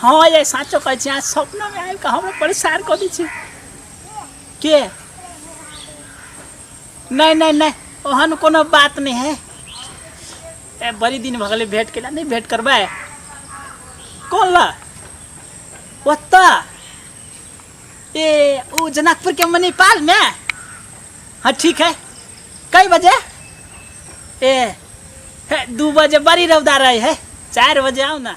हाँ ये साचो कहै छी अहाँ सपना में आबि कऽ हमरा परेशान कऽ दै छी के नहीं नहीं नहीं ओहन कोनो बात नहीं है ए बड़ी दिन भऽ गेलै भेंट केला नहीं भेंट करबै कोन ला ओत्ता ए ओ जनकपुर के मणिपाल में हाँ ठीक है कई बजे ए हे, दू बजे बड़ी रौदा रहे है चार बजे आओ ना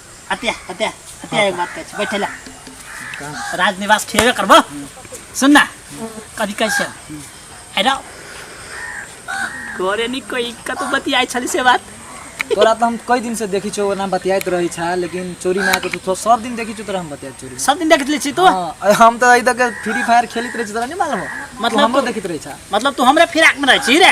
हत्या हत्या हत्या एक बात कहै छी बैठे ला राजनिवास खेबे करबो सुन ना कभी कहै छै अरे घरे नी कोई कतौ बतियाइ छली से बात तोरा तो हम कई दिन से देखी छो ओना बतियात रही छा लेकिन चोरी ना के तो सब दिन देखी छो तोरा हम बतियात चोरी सब दिन देखत ले छी तू हाँ, अरे हम तो इधर के फ्री फायर खेलत रही छी तोरा नहीं मालूम हो? मतलब तू हमरो तो- देखत रही छा मतलब तू हमरे फिराक में रहै छी रे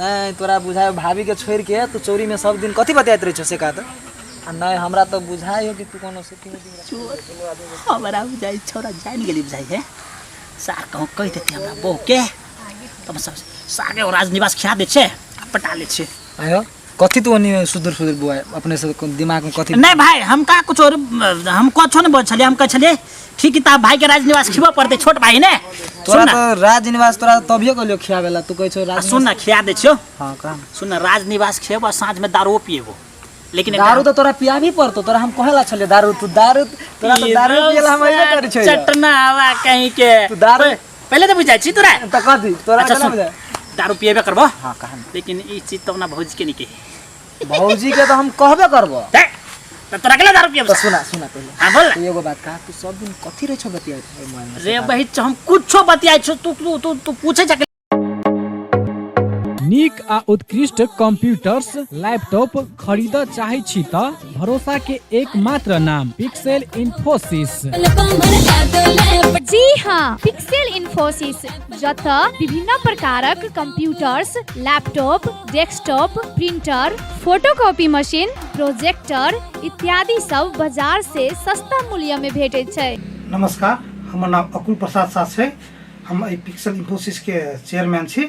नहि तोरा बुझाय भाभी के छोड़ के तू चोरी में सब दिन कथी बतियात रहे छो से कहत आ नहि हमरा तो बुझाय हो कि तू कोनो सेटिंग चोर हमरा बुझाई छोरा जान गेली बुझाई है सार कहूँ कहि देते हमरा बहू के तब सब सागे और राजनिवास खिया दे छे आ पटा ले छे आयो कथी तू ओनी सुदूर सुदूर बुआ अपने से को- दिमाग में कथी नहीं भाई हम का कुछ और हम कुछो नहीं बोल छलिए हम कह छलिए ठीक है भाई के राजनिवास खिबो पड़ते छोट भाई ने तोरा सुन ना तो राज निवास तोरा तो तभिए कहलियो खियावेला तू कहै छौ आ, राज सुन ना खिया दे छियो हां का सुन ना राजनिवास खेब और साँझ में दारू पिएबो लेकिन एक दारू तो तोरा पिया भी पड़तो तोरा हम कहला छलियो दारू तू दारू तोरा तो दारू पियला हम अइबे करै छै चटना हवा कहीं के तू दारू पहले तो बुझाई छी तोरा तो कह दी तोरा अच्छा, अच्छा सुन। सुन दारू पिएबे करबो हां कहा लेकिन ई चीज तो अपना भौजी के नहीं कही भौजी के तो हम कहबे करबो दे तो तोरा के लिए दारू पिएबे तो सुना सुना पहले हां बोल ना। एगो बात कहा तू सब दिन कथी रे छो बतिया रे बही च हम कुछो बतियाई छो तू तू तू तू पूछे जा नीक आ उत्कृष्ट कंप्यूटर्स लैपटॉप खरीदऽ चाहै छी तऽ भरोसा के एकमात्र नाम पिक्सेल इन्फोसिस जी हाँ पिक्सेल इन्फोसिस जत विभिन्न प्रकारक computers laptop desktop printer photocopy machine projector इत्यादि सब बाजार से सस्ता मूल्य में भेटे छै नमस्कार हमर नाम अकुल प्रसाद साह छै हम एहि पिक्सल इन्फोसिसके चेयरमैन छी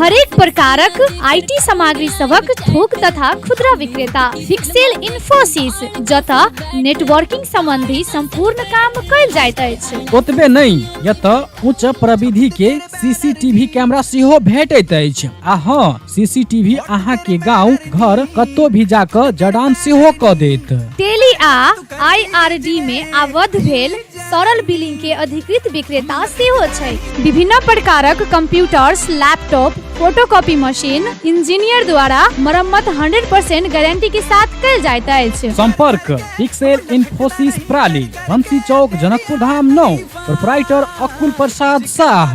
हरेक प्रकारक आईटी सामग्री सभक थोक तथा खुदरा विक्रेता फिक्सेल इन्फोसिस जतऽ नेटवर्किंग संबंधी संपूर्ण काम कयल जाइत अछि ओतबे नहि एतऽ उच्च प्रविधि के सीसीटीवी कैमरा सेहो भेटैत अछि आ हँ सीसीटीवी अहाँ के गांव घर कतौ भी जाकऽ जड़ान सेहो कऽ देत टेली आ आईआरडी में आबद्ध भेल तरल बिलिंग के अधिकृत विक्रेता सेहो छै विभिन्न प्रकारक computers laptop photocopy machine engineer द्वारा मरम्मत 100% गारंटी के साथ कल जाइत अछि संपर्क पिक्सेल इन्फोसिस प्राली बंसी चौक जनकपुर धाम नौ प्रोपराइटर अकुल प्रसाद शाह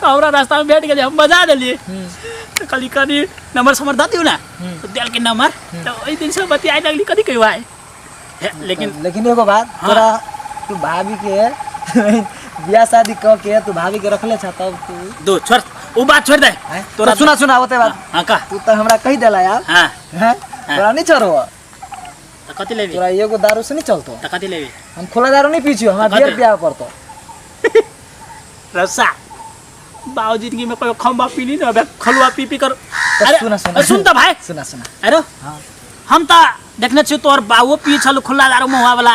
तऽ हमरा रास्तामे भेट गेलै हम बजा देलियै तऽ कहली कनि नम्बर समर दऽ दियौ ने तऽ देलकै नम्बर तऽ ओहि दिनसँ बतियाए लगली कथी कहू आइ हे, लेकिन लेकिन एगो बात हाँ। तोरा तू भाभी के बियाह शादी कऽ के तू भाभी के रखले छ तब तू दो छोड़ ओ बात छोड़ दे हैं? तोरा तोरा सुना सुना होते बात हाँ का तू तो हमरा कही देला यार हाँ हैं? तोरा नहीं छोड़ो तो कथी लेबी तोरा एगो दारू से नहीं चलतो तो कथी लेबी हम खुला दारू नहीं पीछियो हमरा कथी? बियर पियावे पड़तो रसा बाबू जिंदगी में कोई खम्बा पी ली ना अबे खलुआ पी पी कर तो अरे, सुना सुना अरे सुन तो भाई सुना सुना अरे हाँ। हम तो देखने छी तोहर बाबू पी छल खुला दारू मुहा वाला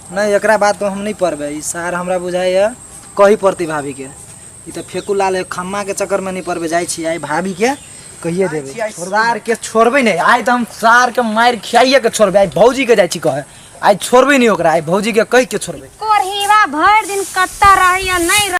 नहीं एक बात तो हम नहीं पढ़बे ई सार हमरा बुझाई है कही पड़ती भाभी के ई तो फेकू लाल है खम्मा के चक्कर में नहीं पड़बे जाई छी आई भाभी के कहिए देबे आई सार के छोड़बे नहीं आई तो हम सार के मार खियाइए के छोड़बे आई भौजी के जाई छी कहे आई छोड़बे नहीं ओकरा आई भौजी के कह के छोड़बे कोरहीवा भर दिन कत्ता रही या नहीं रही